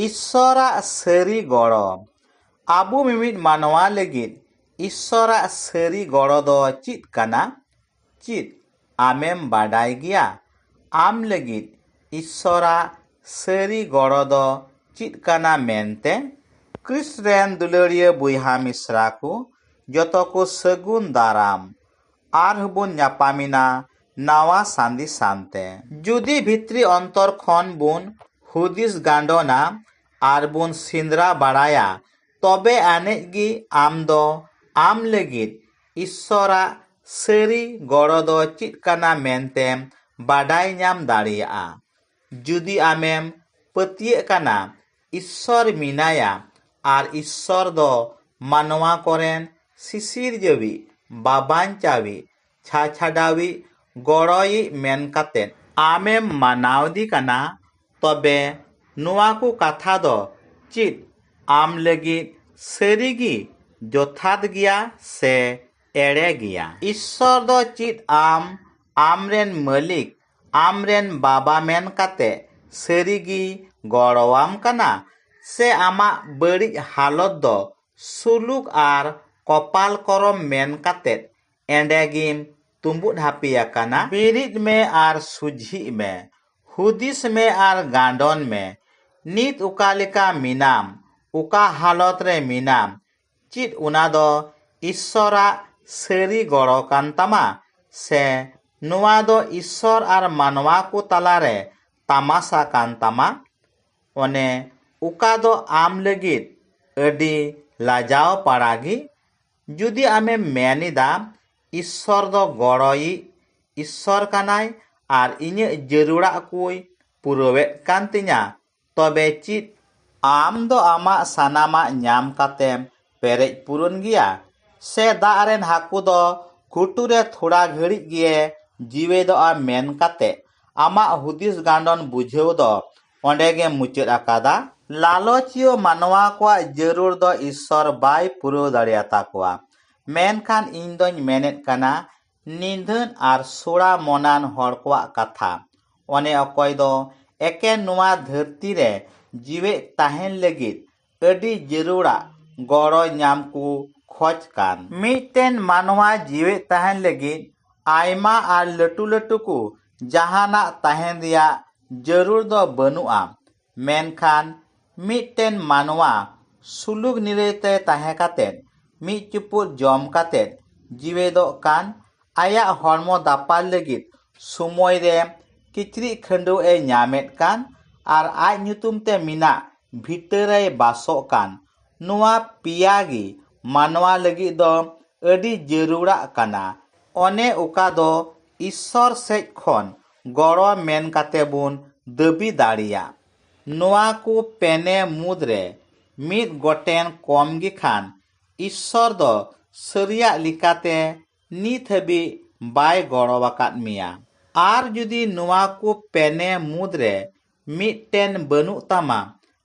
ᱤᱥᱥᱚᱨᱟᱜ ᱥᱟᱹᱨᱤ ᱜᱚᱲᱚ᱾ ᱟᱵᱚ ᱢᱤᱢᱤᱫ ᱢᱟᱱᱣᱟ ᱞᱟᱹᱜᱤᱫ ᱤᱥᱥᱚᱨᱟᱜ ᱥᱟᱹᱨᱤ ᱜᱚᱲᱚ ᱫᱚ ᱪᱮᱫ ᱠᱟᱱᱟ? ᱪᱮᱫ ᱟᱢᱮᱢ ᱵᱟᱰᱟᱭ ᱜᱮᱭᱟ ᱟᱢ ᱞᱟᱹᱜᱤᱫ ᱤᱥᱥᱚᱨᱟᱜ ᱥᱟᱹᱨᱤ ᱜᱚᱲᱚ ᱫᱚ ᱪᱮᱫ ᱠᱟᱱᱟ ᱢᱮᱱᱛᱮ? ᱠᱨᱤᱥᱴ ᱨᱮᱱ ᱫᱩᱞᱟᱹᱲᱤᱭᱟᱹ ᱵᱚᱭᱦᱟ ᱢᱤᱥᱨᱟ ᱠᱚ ᱡᱚᱛᱚ ᱠᱚ ᱥᱟᱹᱜᱩᱱ ᱫᱟᱨᱟᱢ᱾ ᱟᱨ ᱦᱚᱸ ᱵᱚᱱ ᱧᱟᱯᱟᱢ ᱮᱱᱟ ᱱᱟᱣᱟ ᱥᱟᱸᱫᱮᱥ ᱥᱟᱶᱛᱮ᱾ ᱡᱩᱫᱤ ᱵᱷᱤᱛᱨᱤ ᱚᱱᱛᱚᱨ ᱠᱷᱚᱱ ᱵᱚᱱ ᱦᱩᱫᱤᱥ ᱜᱟᱸᱰᱚᱱᱟ ᱟᱨ ᱵᱚᱱ ᱥᱮᱸᱫᱽᱨᱟ ᱵᱟᱲᱟᱭᱟ ᱛᱚᱵᱮ ᱟᱹᱱᱤᱡ ᱜᱮ ᱟᱢ ᱫᱚ ᱟᱢ ᱞᱟᱹᱜᱤᱫ ᱤᱥᱥᱚᱨ ᱟᱜ ᱥᱟᱹᱨᱤ ᱜᱚᱲᱚ ᱫᱚ ᱪᱮᱫ ᱠᱟᱱᱟ ᱢᱮᱱᱛᱮᱢ ᱵᱟᱰᱟᱭ ᱧᱟᱢ ᱫᱟᱲᱮᱭᱟᱜᱼᱟ᱾ ᱡᱩᱫᱤ ᱟᱢᱮᱢ ᱯᱟᱹᱛᱭᱟᱹᱜ ᱠᱟᱱᱟ ᱤᱥᱥᱚᱨ ᱢᱮᱱᱟᱭᱟ ᱟᱨ ᱤᱥᱥᱚᱨ ᱫᱚ ᱢᱟᱱᱣᱟ ᱠᱚᱨᱮᱱ ᱥᱤᱥᱤᱨᱡᱟᱹᱣᱤᱡ, ᱵᱟᱵᱟᱧᱪᱟᱣᱤᱡ, ᱪᱷᱟᱪᱷᱟᱰᱟᱣᱤᱡ, ᱜᱚᱲᱚᱭᱤᱡ ᱢᱮᱱ ᱠᱟᱛᱮ᱾ ᱟᱢᱮᱢ ᱢᱟᱱᱟᱣᱫᱤ ᱠᱟᱱᱟ ᱛᱚᱵᱮ ᱱᱚᱣᱟ ᱠᱚ ᱠᱟᱛᱷᱟ ᱫᱚ ᱪᱤᱫ ᱟᱢ ᱞᱟᱹᱜᱤᱫ ᱥᱟᱹᱨᱤ ᱜᱤ ᱡᱚᱛᱷᱟᱛ ᱜᱮᱭᱟ ᱥᱮ ᱮᱲᱮ ᱜᱮᱭᱟ? ᱤᱥᱥᱚᱨ ᱫᱚ ᱪᱤᱫ ᱟᱢ ᱟᱢᱨᱮᱱ ᱢᱟᱹᱞᱤᱠ ᱟᱢ ᱨᱮᱱ ᱵᱟᱵᱟ ᱢᱮᱱ ᱠᱟᱛᱮᱫ ᱥᱟᱹᱨᱤ ᱜᱮᱭ ᱜᱚᱲᱚ ᱟᱢ ᱠᱟᱱᱟ ᱥᱮ ᱟᱢᱟᱜ ᱵᱟᱹᱲᱤᱡ ᱦᱟᱞᱚᱛ ᱫᱚ ᱥᱩᱞᱩᱠ ᱟᱨ ᱠᱚᱯᱟᱞ ᱠᱚᱨᱚᱢ ᱢᱮᱱ ᱠᱟᱛᱮᱫ ᱮᱸᱰᱮ ᱜᱮᱢ ᱛᱩᱢᱵᱩᱫ ᱦᱟᱹᱯᱤ ᱟᱠᱟᱱᱟ? ᱵᱮᱨᱮᱫ ᱢᱮ ᱟᱨ ᱥᱩᱡᱷᱤᱜ ᱢᱮ᱾ ᱦᱩᱫᱤᱥ ᱢᱮ ᱟᱨ ᱜᱟᱸᱰᱚᱱ ᱢᱮ᱾ ᱱᱤᱛ ᱚᱠᱟ ᱞᱮᱠᱟ ᱢᱮᱱᱟᱢ, ᱚᱠᱟ ᱦᱟᱞᱚᱛ ᱨᱮ ᱢᱮᱱᱟᱢ, ᱪᱮᱫ ᱚᱱᱟ ᱫᱚ ᱤᱥᱥᱚᱨᱟᱜ ᱥᱟᱹᱨᱤ ᱜᱚᱲᱚ ᱠᱟᱱ ᱛᱟᱢᱟ ᱥᱮ ᱱᱚᱣᱟ ᱫᱚ ᱤᱥᱥᱚᱨ ᱟᱨ ᱢᱟᱱᱣᱟ ᱠᱚ ᱛᱟᱞᱟ ᱨᱮ ᱛᱟᱢᱟᱥᱟ ᱠᱟᱱ ᱛᱟᱢᱟ? ᱚᱱᱮ ᱚᱠᱟ ᱫᱚ ᱟᱢ ᱞᱟᱹᱜᱤᱫ ᱟᱹᱰᱤ ᱞᱟᱡᱟᱣ ᱯᱟᱲᱟ ᱜᱮ᱾ ᱡᱩᱫᱤ ᱟᱢᱮᱢ ᱢᱮᱱ ᱮᱫᱟ, ᱤᱥᱥᱚᱨ ᱫᱚ ᱜᱚᱲᱚᱭᱤᱡ ᱤᱥᱥᱚᱨ ᱠᱟᱱᱟᱭ ᱟᱨ ᱤᱧᱟᱹᱜ ᱡᱟᱹᱨᱩᱲᱟᱜ ᱠᱚᱭ ᱯᱩᱨᱟᱹᱣᱮᱫ ᱠᱟᱱ ᱛᱤᱧᱟ, ᱛᱚᱵᱮ ᱪᱮᱫ ᱟᱢ ᱫᱚ ᱟᱢᱟᱜ ᱥᱟᱱᱟᱢᱟᱜ ᱧᱟᱢ ᱠᱟᱛᱮᱢ ᱯᱮᱨᱮᱡ ᱯᱩᱨᱩᱱ ᱜᱮᱭᱟ? ᱥᱮ ᱫᱟᱜ ᱨᱮᱱ ᱦᱟᱹᱠᱩ ᱫᱚ ᱜᱷᱩᱴᱩ ᱨᱮ ᱛᱷᱚᱲᱟ ᱜᱷᱟᱹᱲᱤᱡ ᱜᱮᱭᱮ ᱡᱤᱣᱮᱫᱚᱜᱼᱟ ᱢᱮᱱ ᱠᱟᱛᱮ ᱟᱢᱟᱜ ᱦᱩᱫᱤᱥ ᱜᱟᱱᱰᱚᱱ ᱵᱩᱡᱷᱟᱹᱣ ᱫᱚ ᱚᱸᱰᱮ ᱜᱮᱢ ᱢᱩᱪᱟᱹᱫ ᱟᱠᱟᱫᱟ? ᱞᱟᱞᱚᱪᱤᱭᱟᱹ ᱢᱟᱱᱣᱟ ᱠᱚᱣᱟᱜ ᱡᱟᱹᱨᱩᱲ ᱫᱚ ᱤᱥᱥᱚᱨ ᱵᱟᱭ ᱯᱩᱨᱟᱹᱣ ᱫᱟᱲᱮᱭᱟᱛᱟ ᱠᱚᱣᱟ᱾ ᱢᱮᱱᱠᱷᱟᱱ ᱤᱧ ᱫᱚᱧ ᱢᱮᱱᱮᱫ ᱠᱟᱱᱟ ᱱᱤᱫᱷᱟᱹᱱ ᱟᱨ ᱥᱚᱲᱟ ᱢᱚᱱᱟᱱ ᱦᱚᱲ ᱠᱚᱣᱟᱜ ᱠᱟᱛᱷᱟ᱾ ᱚᱱᱮ ᱚᱠᱚᱭ ᱫᱚ ᱮᱠᱮᱱ ᱱᱚᱶᱟ ᱫᱷᱟᱹᱨᱛᱤ ᱨᱮ ᱡᱤᱣᱮᱫ ᱛᱟᱦᱮᱸᱱ ᱞᱟᱹᱜᱤᱫ ᱟᱹᱰᱤ ᱡᱟᱹᱨᱩᱲᱟᱜ ᱜᱚᱲᱚ ᱧᱟᱢ ᱠᱚ ᱠᱷᱚᱡᱽ ᱠᱟᱱ᱾ ᱢᱤᱫᱴᱮᱱ ᱢᱟᱱᱣᱟ ᱡᱤᱣᱮᱫ ᱛᱟᱦᱮᱸᱱ ᱞᱟᱹᱜᱤᱫ ᱟᱭᱢᱟ ᱟᱨ ᱞᱟᱹᱴᱩ ᱞᱟᱹᱴᱩ ᱠᱚ ᱡᱟᱦᱟᱸᱱᱟᱜ ᱛᱟᱦᱮᱸᱱ ᱨᱮᱭᱟᱜ ᱡᱟᱹᱨᱩᱲ ᱫᱚ ᱵᱟᱹᱱᱩᱜᱼᱟ᱾ ᱢᱮᱱᱠᱷᱟᱱ ᱢᱤᱫᱴᱮᱱ ᱢᱟᱱᱣᱟ ᱥᱩᱞᱩᱠ ᱱᱤᱨᱟᱹᱭ ᱛᱮ ᱛᱟᱦᱮᱸ ᱠᱟᱛᱮ ᱢᱤᱫ ᱪᱩᱯᱩᱫ ᱡᱚᱢ ᱠᱟᱛᱮ ᱡᱤᱣᱮᱫᱚᱜ ᱠᱟᱱ ᱟᱭᱟᱜ ᱦᱚᱲᱢᱚ ᱫᱟᱯᱟᱞ ᱞᱟᱹᱜᱤᱫ ᱥᱚᱢᱚᱭ ᱨᱮ ᱠᱤᱪᱨᱤᱡ ᱠᱷᱟᱹᱰᱣᱟᱹᱜ ᱮ ᱧᱟᱢᱮᱫ ᱠᱟᱱ ᱟᱨ ᱟᱡ ᱧᱩᱛᱩᱢ ᱛᱮ ᱢᱮᱱᱟᱜ ᱵᱷᱤᱴᱟᱹ ᱨᱮᱭ ᱵᱟᱥᱚᱜ ᱠᱟᱱ ᱱᱚᱶᱟ ᱯᱮᱭᱟ ᱜᱮ ᱢᱟᱱᱣᱟ ᱞᱟᱹᱜᱤᱫ ᱫᱚ ᱟᱹᱰᱤ ᱡᱟᱹᱨᱩᱲᱟᱜ ᱠᱟᱱᱟ᱾ ᱚᱱᱮ ᱚᱠᱟ ᱫᱚ ᱤᱥᱥᱚᱨ ᱥᱮᱡ ᱠᱷᱚᱱ ᱜᱚᱲᱚ ᱢᱮᱱ ᱠᱟᱛᱮ ᱵᱚᱱ ᱫᱟᱹᱵᱤ ᱫᱟᱲᱮᱭᱟᱜ᱾ ᱱᱚᱶᱟ ᱠᱚ ᱯᱮᱱᱮ ᱢᱩᱫᱽ ᱨᱮ ᱢᱤᱫ ᱜᱚᱴᱮᱱ ᱠᱚᱢ ᱜᱮ ᱠᱷᱟᱱ ᱤᱥᱥᱚᱨ ᱫᱚ ᱥᱟᱹᱨᱤᱭᱟᱜ ᱞᱮᱠᱟᱛᱮ ᱱᱤᱛ ᱦᱟᱹᱵᱤᱡ ᱵᱟᱭ ᱜᱚᱲᱚ ᱟᱠᱟᱫ ᱢᱮᱭᱟ᱾ ᱟᱨ ᱡᱩᱫᱤ ᱱᱚᱶᱟ ᱠᱚ ᱯᱮᱱᱮ ᱢᱩᱫᱽ ᱨᱮ ᱢᱤᱫᱴᱮᱱ ᱵᱟᱹᱱᱩᱜ ᱛᱟᱢᱟ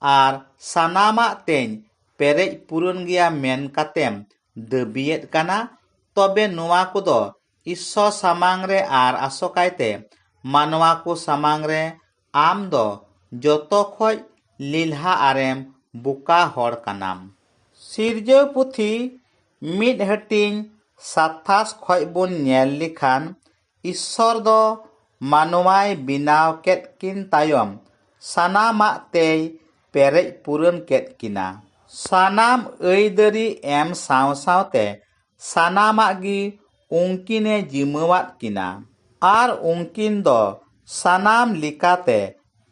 ᱟᱨ ᱥᱟᱱᱟᱢᱟᱜ ᱛᱮᱧ ᱯᱮᱨᱮᱡ ᱯᱩᱨᱩᱱ ᱜᱮᱭᱟ ᱢᱮᱱ ᱠᱟᱛᱮᱢ ᱫᱟᱹᱵᱤᱭᱮᱫ ᱠᱟᱱᱟ, ᱛᱚᱵᱮ ᱱᱚᱶᱟ ᱠᱚᱫᱚ ᱤᱥᱥᱚ ᱥᱟᱢᱟᱝ ᱨᱮ ᱟᱨ ᱟᱥᱚᱠᱟᱭ ᱛᱮ ᱢᱟᱱᱣᱟ ᱠᱚ ᱥᱟᱢᱟᱝ ᱨᱮ ᱟᱢ ᱫᱚ ᱡᱚᱛᱚ ᱠᱷᱚᱡ ᱞᱮᱞᱦᱟ ᱟᱨᱮᱢ ᱵᱚᱠᱟ ᱦᱚᱲ ᱠᱟᱱᱟᱢ᱾ ᱥᱤᱨᱡᱟᱹᱣ ᱯᱩᱛᱷᱤ ᱢᱤᱫ ᱦᱟᱹᱴᱤᱧ ᱥᱟᱛᱷᱟᱥ ᱠᱷᱚᱡ ᱵᱚᱱ ᱧᱮᱞ ᱞᱮᱠᱷᱟᱱ ᱤᱥᱥᱚᱨ ᱫᱚ ᱢᱟᱱᱣᱟᱭ ᱵᱮᱱᱟᱣ ᱠᱮᱫ ᱠᱤᱱ ᱛᱟᱭᱚᱢ ᱥᱟᱱᱟᱢᱟᱜ ᱛᱮᱭ ᱯᱮᱨᱮᱡ ᱯᱩᱨᱟᱹᱱ ᱠᱮᱫ ᱠᱤᱱᱟ᱾ ᱥᱟᱱᱟᱢ ᱟᱹᱭᱫᱟᱹᱨᱤ ᱮᱢ ᱥᱟᱶ ᱥᱟᱶᱛᱮ ᱥᱟᱱᱟᱢᱟᱜ ᱜᱮ ᱩᱱᱠᱤᱱ ᱮ ᱡᱤᱢᱟᱹᱣᱟᱫ ᱠᱤᱱᱟ ᱟᱨ ᱩᱱᱠᱤᱱ ᱫᱚ ᱥᱟᱱᱟᱢ ᱞᱮᱠᱟᱛᱮ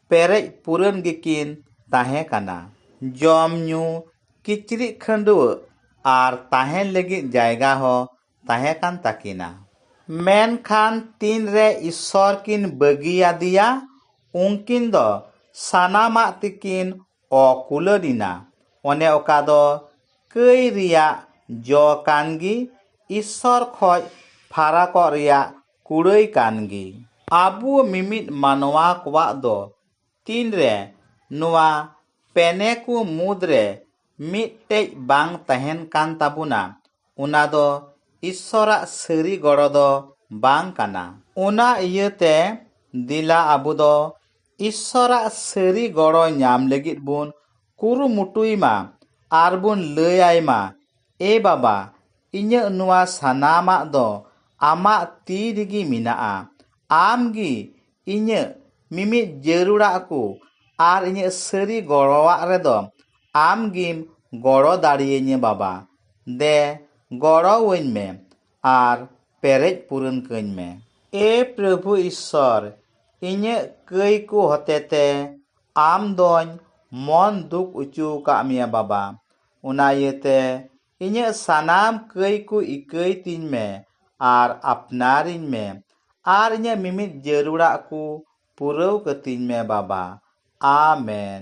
ᱯᱮᱨᱮᱡ ᱯᱩᱨᱟᱹᱱ ᱜᱮᱠᱤᱱ ᱛᱟᱦᱮᱸ ᱠᱟᱱᱟ᱾ ᱡᱚᱢ ᱧᱩ, ᱠᱤᱪᱨᱤᱡ ᱠᱷᱟᱹᱰᱣᱟᱹᱜ ᱟᱨ ᱛᱟᱦᱮᱱ ᱞᱟᱹᱜᱤᱫ ᱡᱟᱭᱜᱟ ᱦᱚᱸ ᱛᱟᱦᱮᱸ ᱠᱟᱱ ᱛᱟᱹᱠᱤᱱᱟ᱾ ᱢᱮᱱᱠᱷᱟᱱ ᱛᱤᱱ ᱨᱮ ᱤᱥᱥᱚᱨ ᱠᱤᱱ ᱵᱟᱹᱜᱤ ᱟᱫᱮᱭᱟ, ᱩᱱᱠᱤᱱ ᱫᱚ ᱥᱟᱱᱟᱢᱟᱜ ᱛᱮᱠᱤᱱ ᱚᱠᱩᱞᱟᱹᱱᱤᱱᱟ ᱚᱱᱮ ᱚᱠᱟ ᱫᱚ ᱠᱟᱹᱭ ᱨᱮᱭᱟᱜ ᱡᱚ ᱠᱟᱱ ᱜᱮ ᱤᱥᱥᱚᱨ ᱠᱷᱚᱱ ᱯᱷᱟᱨᱟᱠᱚᱜ ᱨᱮᱭᱟᱜ ᱠᱩᱲᱟᱹᱭ ᱠᱟᱱ ᱜᱮ ᱟᱵᱚ ᱢᱤᱢᱤᱫ ᱢᱟᱱᱣᱟ ᱠᱚᱣᱟᱜ ᱫᱚ ᱛᱤᱱ ᱨᱮ ᱱᱚᱣᱟ ᱯᱮᱱᱮ ᱠᱚ ᱢᱩᱫᱽ ᱨᱮ ᱢᱤᱫᱴᱮᱱ ᱵᱟᱝ ᱛᱟᱦᱮᱱ ᱠᱟᱱ ᱛᱟᱵᱚᱱᱟ ᱚᱱᱟ ᱫᱚ ᱤᱥᱥᱚᱨᱟᱜ ᱥᱟᱹᱨᱤ ᱜᱚᱲᱚ ᱫᱚ ᱵᱟᱝ ᱠᱟᱱᱟ ᱚᱱᱟ ᱤᱭᱟᱹᱛᱮ ᱫᱮᱞᱟ ᱟᱵᱚ ᱫᱚ ᱤᱥᱥᱚᱨᱟᱜ ᱥᱟᱹᱨᱤ ᱜᱚᱲᱚ ᱧᱟᱢ ᱞᱟᱹᱜᱤᱫ ᱵᱚᱱ ᱠᱩᱨᱩᱢᱩᱴᱩᱭ ᱢᱟ ᱟᱨ ᱵᱚᱱ ᱞᱟᱹᱭ ᱟᱭ ᱢᱟ, ᱮ ᱵᱟᱵᱟ, ᱤᱧᱟᱹᱜ ᱱᱚᱶᱟ ᱥᱟᱱᱟᱢᱟᱜ ᱫᱚ ᱟᱢᱟᱜ ᱛᱤ ᱨᱮᱜᱮ ᱢᱮᱱᱟᱜᱼᱟ᱾ ᱟᱢ ᱜᱮ ᱤᱧᱟᱹᱜ ᱢᱤᱢᱤᱫ ᱡᱟᱹᱨᱩᱲᱟᱜ ᱠᱚ ᱟᱨ ᱤᱧᱟᱹᱜ ᱥᱟᱹᱨᱤ ᱜᱚᱲᱚᱣᱟᱜ ᱨᱮᱫᱚ ᱟᱢ ᱜᱮᱢ ᱜᱚᱲᱚ ᱫᱟᱲᱮᱭᱟᱹᱧᱟᱹ ᱵᱟᱵᱟ᱾ ᱫᱮ, ᱜᱚᱲᱚᱣᱟᱹᱧ ᱢᱮ᱾ ᱟᱨ ᱯᱮᱨᱮᱡ ᱯᱩᱨᱩᱱ ᱠᱟᱹᱧ ᱢᱮ᱾ ᱮ ᱯᱨᱚᱵᱷᱩ ᱤᱥᱥᱚᱨ, ᱤᱧᱟᱹᱜ ᱠᱟᱹᱭ ᱠᱚ ᱦᱚᱛᱮᱛᱮ ᱟᱢ ᱫᱚᱧ ᱢᱚᱱ ᱫᱩᱠ ᱚᱪᱚ ᱟᱠᱟᱫ ᱢᱮᱭᱟ ᱵᱟᱵᱟ᱾ ᱚᱱᱟ ᱤᱭᱟᱹᱛᱮ ᱤᱧᱟᱹᱜ ᱥᱟᱱᱟᱢ ᱠᱟᱹᱭ ᱠᱚ ᱤᱠᱟᱹᱭ ᱛᱤᱧ ᱢᱮ ᱟᱨ ᱟᱯᱱᱟᱨᱤᱧ ᱢᱮ ᱟᱨ ᱤᱧᱟᱹᱜ ᱢᱤᱢᱤᱫ ᱡᱟᱹᱨᱩᱲᱟᱜ ᱠᱚ ᱯᱩᱨᱟᱹᱣ ᱠᱟᱹᱛᱤᱧ ᱢᱮ ᱵᱟᱵᱟ᱾ ᱟᱢᱮᱱ᱾